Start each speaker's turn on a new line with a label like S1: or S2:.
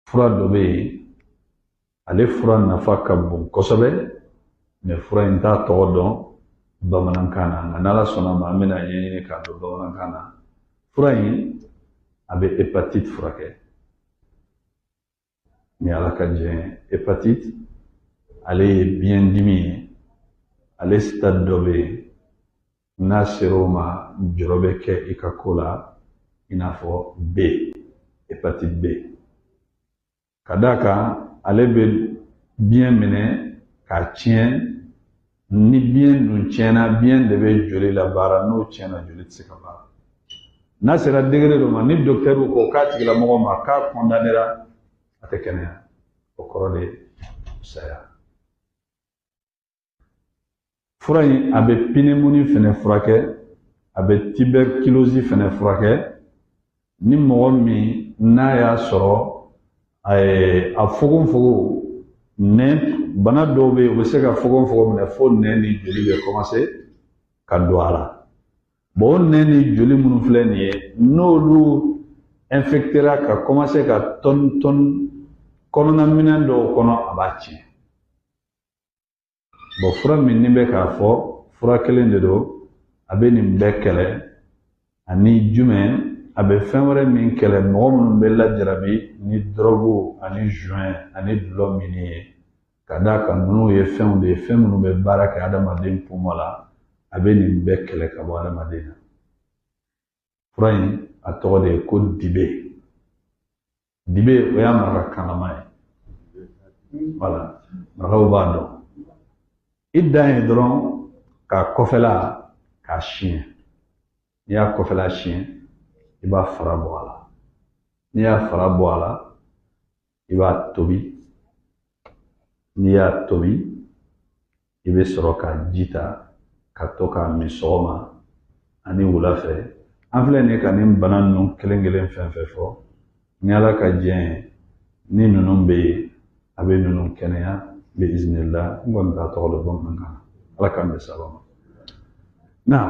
S1: fura dɔ bɛ yen ale fura nafa ka bon kosɛbɛ mɛ fura in t'a tɔgɔ dɔn bamanankan na nka n'ala sɔnna ma an bɛn'a ɲɛɲini k'a dɔn bamanankan na fura in a bɛ hepatite furakɛ ni ala ka jɛn hepatite ale ye biɲɛ dimi ye ale sitade dɔ bɛ yen n'a sera o ma jɔrɔ bɛ kɛ i ka ko la i n'a fɔ b hepatite b ka d'a kan ale bɛ biɲɛ minɛ k'a tiɲɛ ni biɲɛ dun tiɲɛna biɲɛ de bɛ joli labaara n'o tiɲɛna joli tɛ se ka baara n'a sera degere dɔ ma ni dɔkitɛriw ko k'a tigilamɔgɔ ma k'a kɔndanera a tɛ kɛnɛya o kɔrɔ de saya fura in a bɛ pinimuni fɛnɛ furakɛ a bɛ tibɛrikilozi fɛnɛ furakɛ ni mɔgɔ min n'a y'a sɔrɔ a fogonfogon nɛn bana dɔw bɛ yen u bɛ se ka fogonfogon minɛ fo nɛn ni joli bɛ kɔmanse ka don a la o nɛn ni joli minnu filɛ nin ye n'olu ɛnfɛktera ka kɔmanse ka tɔni tɔni kɔnɔna minɛn dɔw kɔnɔ a b'a tiɲɛ bɔn fura min ne bɛ k'a fɔ fura kelen de don a bɛ nin bɛɛ kɛlɛ ani jumɛn a bɛ fɛn wɛrɛ min kɛlɛ mɔgɔ minnu bɛ lajarabi ni dɔrɔgu ani zuwɛn ani dulɔ min ye ka d'a kan ninnu ye fɛnw de ye fɛn minnu bɛ baara kɛ adamaden pumɔn la a bɛ nin bɛɛ kɛlɛ ka bɔ adamaden na fura in a tɔgɔ de ye ko dibe dibe o y'a marakakanama ye wala marakaw b'a dɔn i dan ye dɔrɔn k'a kɔfɛla k'a siɲɛ n'i y'a kɔfɛla siɲɛ i b'a fara bɔ a la n'i y'a fara bɔ a la i b'a tobi n'i y'a tobi i bɛ sɔrɔ k'a ji ta ka to k'a min sɔgɔma ani wula fɛ an filɛ nin ye ka nin bana ninnu kelen kelen fɛn fɛn fɔ ni ala ka jɛn ye ni ninnu bɛ yen a bɛ ninnu kɛnɛya bi izinila n kɔni t'a tɔgɔ dɔn bamanankan na ala k'an bɛn sababu ma